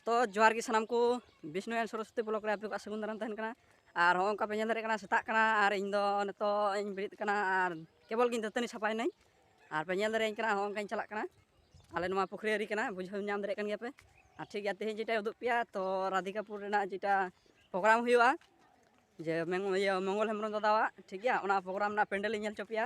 ᱛᱚ ᱡᱚᱦᱟᱨ ᱜᱮ ᱥᱟᱱᱟᱢ ᱠᱚ ᱵᱤᱥᱱᱩ ᱮᱱ ᱥᱚᱨᱚᱥᱚᱛᱤ ᱵᱞᱚᱠ ᱨᱮ ᱟᱯᱮ ᱠᱚᱣᱟᱜ ᱥᱟᱹᱜᱩᱱ ᱫᱟᱨᱟᱢ ᱛᱟᱦᱮᱱ ᱠᱟᱱᱟ ᱟᱨ ᱦᱚᱸ ᱚᱱᱠᱟ ᱯᱮ ᱧᱮᱞ ᱫᱟᱲᱮᱭᱟᱜ ᱠᱟᱱᱟ ᱥᱮᱛᱟᱜ ᱠᱟᱱᱟ ᱟᱨ ᱤᱧ ᱫᱚ ᱱᱤᱛᱚᱜ ᱤᱧ ᱵᱮᱨᱮᱫ ᱠᱟᱱᱟ ᱟᱨ ᱠᱮᱵᱚᱞ ᱜᱤᱧ ᱫᱟᱹᱛᱟᱹᱱᱤ ᱥᱟᱯᱷᱟᱭᱮᱱᱟᱹᱧ ᱟᱨ ᱯᱮ ᱧᱮᱞ ᱫᱟᱲᱮᱭᱟᱹᱧ ᱠᱟᱱᱟ ᱦᱚᱸ ᱚᱱᱠᱟᱧ ᱪᱟᱞᱟᱜ ᱠᱟᱱᱟ ᱟᱞᱮ ᱱᱚᱣᱟ ᱯᱩᱠᱷᱨᱤ ᱟᱹᱨᱤ ᱠᱟᱱᱟ ᱵᱩᱡᱷᱟᱹᱣ ᱧᱟᱢ ᱫᱟᱲᱮᱭᱟᱜ ᱠᱟᱱ ᱜᱮᱭᱟ ᱯᱮ ᱟᱨ ᱴᱷᱤᱠ ᱜᱮᱭᱟ ᱛᱮᱦᱮᱧ ᱡᱮᱴᱟᱭ ᱩᱫᱩᱜ ᱯᱮᱭᱟ ᱛᱚ ᱨᱟᱫᱷᱤᱠᱟᱯᱩᱨ ᱨᱮᱱᱟᱜ ᱡᱮᱴᱟ ᱯᱨᱳᱜᱨᱟᱢ ᱦᱩᱭᱩᱜᱼᱟ ᱡᱮ ᱤᱭᱟᱹ ᱢᱚᱝᱜᱚᱞ ᱦᱮᱢᱵᱨᱚᱢ ᱫᱟᱫᱟᱣᱟᱜ ᱴᱷᱤᱠ ᱜᱮᱭᱟ ᱚᱱᱟ ᱯᱨᱳᱜᱨᱟᱢ ᱨᱮᱱᱟᱜ ᱯᱮᱱᱰᱮᱞ ᱤᱧ ᱧᱮᱞ ᱦᱚᱪᱚ ᱯᱮᱭᱟ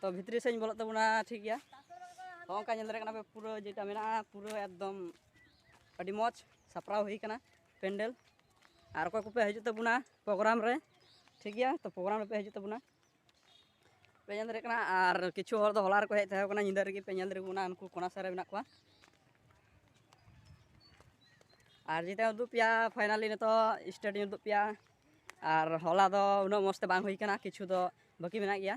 ᱛᱚ ᱵᱷᱤᱛᱨᱤ ᱥᱮᱫ ᱵᱚᱞᱚᱜ ᱛᱟᱵᱚᱱᱟ ᱴᱷᱤᱠ ᱜᱮᱭᱟ ᱦᱚᱸ ᱚᱱᱠᱟ ᱧᱮᱞ ᱫᱟᱲᱮᱭᱟᱜ ᱠᱟᱱᱟ ᱯᱮ ᱯᱩᱨᱟᱹ ᱡᱮᱴᱟ ᱢᱮᱱᱟᱜᱼᱟ ᱯᱩᱨᱟᱹ ᱮᱠᱫᱚᱢ ᱟᱹᱰᱤ ᱢᱚᱡᱽ ᱥᱟᱯᱲᱟᱣ ᱦᱩᱭ ᱠᱟᱱᱟ ᱯᱮᱱᱰᱮᱞ ᱟᱨ ᱚᱠᱚᱭ ᱠᱚᱯᱮ ᱦᱤᱡᱩᱜ ᱛᱟᱵᱚᱱᱟ ᱯᱨᱳᱜᱨᱟᱢ ᱨᱮ ᱴᱷᱤᱠ ᱜᱮᱭᱟ ᱛᱚ ᱯᱨᱳᱜᱨᱟᱢ ᱨᱮᱯᱮ ᱦᱤᱡᱩᱜ ᱛᱟᱵᱚᱱᱟ ᱯᱮ ᱧᱮᱞ ᱫᱟᱲᱮᱭᱟᱜ ᱠᱟᱱᱟ ᱟᱨ ᱠᱤᱪᱷᱩ ᱦᱚᱲ ᱫᱚ ᱦᱚᱞᱟ ᱨᱮᱠᱚ ᱦᱮᱡ ᱛᱟᱦᱮᱸ ᱠᱟᱱᱟ ᱧᱤᱫᱟᱹ ᱨᱮᱜᱮ ᱯᱮ ᱧᱮᱞ ᱫᱟᱲᱮᱭᱟᱜ ᱠᱟᱱᱟ ᱩᱱᱠᱩ ᱠᱚᱱᱟ ᱥᱮᱫ ᱨᱮ ᱢᱮᱱᱟᱜ ᱠᱚᱣᱟ ᱟᱨ ᱡᱮᱴᱟ ᱩᱫᱩᱜ ᱯᱮᱭᱟ ᱯᱷᱟᱭᱱᱟᱞᱤ ᱱᱤᱛᱚᱜ ᱥᱴᱮᱰᱤᱭᱟᱢ ᱩᱫᱩᱜ ᱯᱮᱭᱟ ᱟᱨ ᱦᱚᱞᱟ ᱫᱚ ᱩᱱᱟᱹᱜ ᱢᱚᱡᱽ ᱛᱮ ᱵᱟᱝ ᱦᱩᱭ ᱠᱟᱱᱟ ᱠᱤᱪᱷᱩ ᱫᱚ ᱵᱟᱹᱠᱤ ᱢᱮᱱᱟᱜ ᱜᱮᱭᱟ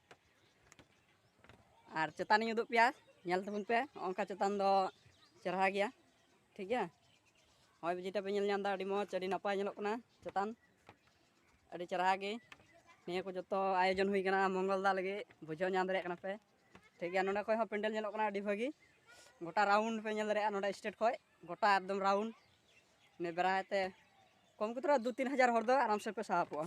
ᱟᱨ ᱪᱮᱛᱟᱱᱤᱧ ᱩᱫᱩᱜ ᱯᱮᱭᱟ ᱧᱮᱞ ᱛᱟᱵᱚᱱ ᱯᱮ ᱚᱱᱠᱟ ᱪᱮᱛᱟᱱ ᱫᱚ ᱪᱮᱨᱦᱟ ᱜᱮᱭᱟ ᱴᱷᱤᱠ ᱜᱮᱭᱟ ᱦᱚᱭ ᱵᱤᱡᱤᱴᱟ ᱯᱮ ᱧᱮᱞ ᱧᱟᱢ ᱮᱫᱟ ᱟᱹᱰᱤ ᱢᱚᱡᱽ ᱟᱹᱰᱤ ᱱᱟᱯᱟᱭ ᱧᱮᱞᱚᱜ ᱠᱟᱱᱟ ᱪᱮᱛᱟᱱ ᱟᱹᱰᱤ ᱪᱮᱨᱦᱟ ᱜᱮ ᱱᱤᱭᱟᱹ ᱠᱚ ᱡᱚᱛᱚ ᱟᱭᱳᱡᱚᱱ ᱦᱩᱭ ᱠᱟᱱᱟ ᱢᱚᱝᱜᱚᱞ ᱫᱟ ᱞᱟᱹᱜᱤᱫ ᱵᱩᱡᱷᱟᱹᱣ ᱧᱟᱢ ᱫᱟᱲᱮᱭᱟᱜ ᱠᱟᱱᱟ ᱯᱮ ᱴᱷᱤᱠ ᱜᱮᱭᱟ ᱱᱚᱰᱮ ᱠᱷᱚᱡ ᱦᱚᱸ ᱯᱮᱱᱰᱮᱞ ᱧᱮᱞᱚᱜ ᱠᱟᱱᱟ ᱟᱹᱰᱤ ᱵᱷᱟᱹᱜᱤ ᱜᱚᱴᱟ ᱨᱟᱣᱩᱱᱰ ᱯᱮ ᱧᱮᱞ ᱫᱟᱲᱮᱭᱟᱜᱼᱟ ᱱᱚᱰᱮ ᱥᱴᱮᱴ ᱠᱷᱚᱡ ᱜᱚᱴᱟ ᱮᱠᱫᱚᱢ ᱨᱟᱣᱩᱱᱰ ᱱᱤᱭᱟᱹ ᱵᱮᱲᱟᱭ ᱛᱮ ᱠᱚᱢ ᱠᱚᱛᱮ ᱫᱩ ᱛᱤᱱ ᱦᱟᱡᱟᱨ ᱦᱚᱲ ᱫᱚ ᱟᱨᱟᱢ ᱥᱮ ᱯᱮ ᱥᱟᱦᱟᱯᱚᱜᱼᱟ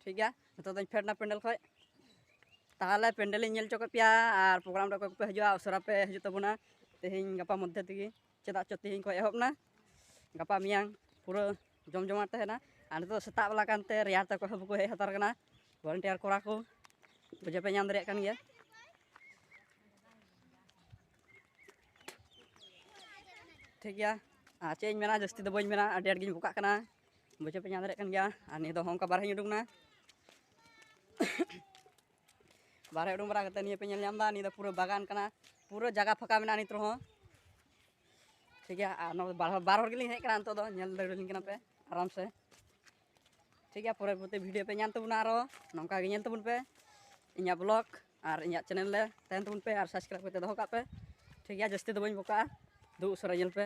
ᱴᱷᱤᱠ ᱜᱮᱭᱟ ᱱᱤᱛᱚᱜ ᱫᱚᱧ ᱯᱷᱮᱰ ᱮᱱᱟ ᱯᱮᱱᱰᱮᱞ ᱠᱷᱚᱡ ᱛᱟᱦᱚᱞᱮ ᱯᱮᱱᱰᱮᱞᱤᱧ ᱧᱮᱞ ᱦᱚᱪᱚ ᱠᱮᱫ ᱯᱮᱭᱟ ᱟᱨ ᱯᱨᱳᱜᱨᱟᱢ ᱨᱮ ᱚᱠᱚᱭ ᱠᱚᱯᱮ ᱦᱤᱡᱩᱜᱼᱟ ᱩᱥᱟᱹᱨᱟ ᱯᱮ ᱦᱤᱡᱩᱜ ᱛᱟᱵᱚᱱᱟ ᱛᱮᱦᱮᱧ ᱜᱟᱯᱟ ᱢᱚᱫᱽᱫᱷᱮ ᱛᱮᱜᱮ ᱪᱮᱫᱟᱜ ᱪᱚ ᱛᱮᱦᱮᱧ ᱠᱷᱚᱡ ᱮᱦᱚᱵ ᱮᱱᱟ ᱜᱟᱯᱟ ᱢᱮᱭᱟᱝ ᱯᱩᱨᱟᱹ ᱡᱚᱢ ᱡᱚᱢᱟᱴ ᱛᱟᱦᱮᱱᱟ ᱟᱨ ᱱᱤᱛᱚᱜ ᱫᱚ ᱥᱮᱛᱟᱜ ᱵᱮᱞᱟ ᱠᱟᱱᱛᱮ ᱨᱮᱭᱟᱲ ᱛᱮ ᱚᱠᱚᱭ ᱦᱚᱸ ᱵᱟᱠᱚ ᱦᱮᱡ ᱦᱟᱛᱟᱲ ᱠᱟᱱᱟ ᱵᱷᱚᱞᱮᱱᱴᱤᱭᱟᱨ ᱠᱚᱲᱟ ᱠᱚ ᱵᱩᱡᱷᱟᱹᱣ ᱯᱮ ᱧᱟᱢ ᱫᱟᱲᱮᱭᱟᱜ ᱠᱟᱱ ᱜᱮᱭᱟ ᱴᱷᱤᱠ ᱜᱮᱭᱟ ᱟᱨ ᱪᱮᱫ ᱤᱧ ᱢᱮᱱᱟ ᱡᱟᱹᱥᱛᱤ ᱫᱚ ᱵᱟᱹᱧ ᱢᱮᱱᱟ ᱟᱹᱰᱤ ᱟᱸᱴ ᱜᱤᱧ ᱵᱚᱠᱟᱜ ᱠᱟᱱᱟ ᱵᱩᱡᱷᱟᱹᱣ ᱯᱮ ᱧᱟᱢ ᱫᱟᱲᱮᱭᱟᱜ ᱠᱟᱱ ᱜᱮᱭᱟ ᱟᱨ ᱱᱤᱭᱟᱹ ᱫᱚ ᱚᱱᱠᱟ ᱵᱟᱨᱦᱮᱧ ᱩᱰᱩᱠ ᱮᱱᱟ ᱵᱟᱨᱦᱮ ᱩᱰᱩᱝ ᱵᱟᱲᱟ ᱠᱟᱛᱮ ᱱᱤᱭᱟᱹ ᱯᱮ ᱧᱮᱞ ᱧᱟᱢ ᱮᱫᱟ ᱱᱤᱭᱟᱹ ᱫᱚ ᱯᱩᱨᱟᱹ ᱵᱟᱜᱟᱱ ᱠᱟᱱᱟ ᱯᱩᱨᱟᱹ ᱡᱟᱭᱜᱟ ᱯᱷᱟᱸᱠᱟ ᱢᱮᱱᱟᱜᱼᱟ ᱱᱤᱛ ᱨᱮᱦᱚᱸ ᱴᱷᱤᱠ ᱜᱮᱭᱟ ᱟᱨ ᱱᱚᱣᱟ ᱵᱟᱨ ᱦᱚᱲ ᱜᱮᱞᱤᱧ ᱦᱮᱡ ᱠᱟᱱᱟ ᱱᱤᱛᱚᱜ ᱫᱚ ᱧᱮᱞ ᱫᱟᱲᱮᱭᱟᱞᱤᱧ ᱠᱟᱱᱟ ᱯᱮ ᱟᱨᱟᱢ ᱥᱮ ᱴᱷᱤᱠ ᱜᱮᱭᱟ ᱯᱚᱨᱮ ᱯᱚᱨᱮ ᱵᱷᱤᱰᱤᱭᱳ ᱯᱮ ᱧᱟᱢ ᱛᱟᱵᱚᱱᱟ ᱟᱨᱚ ᱱᱚᱝᱠᱟ ᱜᱮ ᱧᱮᱞ ᱛᱟᱵᱚᱱ ᱯᱮ ᱤᱧᱟᱹᱜ ᱵᱞᱚᱜ ᱟᱨ ᱤᱧᱟᱹᱜ ᱪᱮᱱᱮᱞ ᱨᱮ ᱛᱟᱦᱮᱱ ᱛᱟᱵᱚᱱ ᱯᱮ ᱟᱨ ᱥᱟᱵᱥᱠᱨᱟᱭᱤᱵᱽ ᱠᱟᱛᱮ ᱫᱚᱦᱚ ᱠᱟᱜ ᱯᱮ ᱴᱷᱤᱠ ᱜᱮᱭᱟ ᱡᱟᱹᱥᱛᱤ ᱫᱚ ᱵᱟᱹᱧ ᱵᱚᱠᱟᱜᱼᱟ ᱫᱩ ᱩᱥᱟᱹᱨᱟ ᱧᱮᱞ ᱯᱮ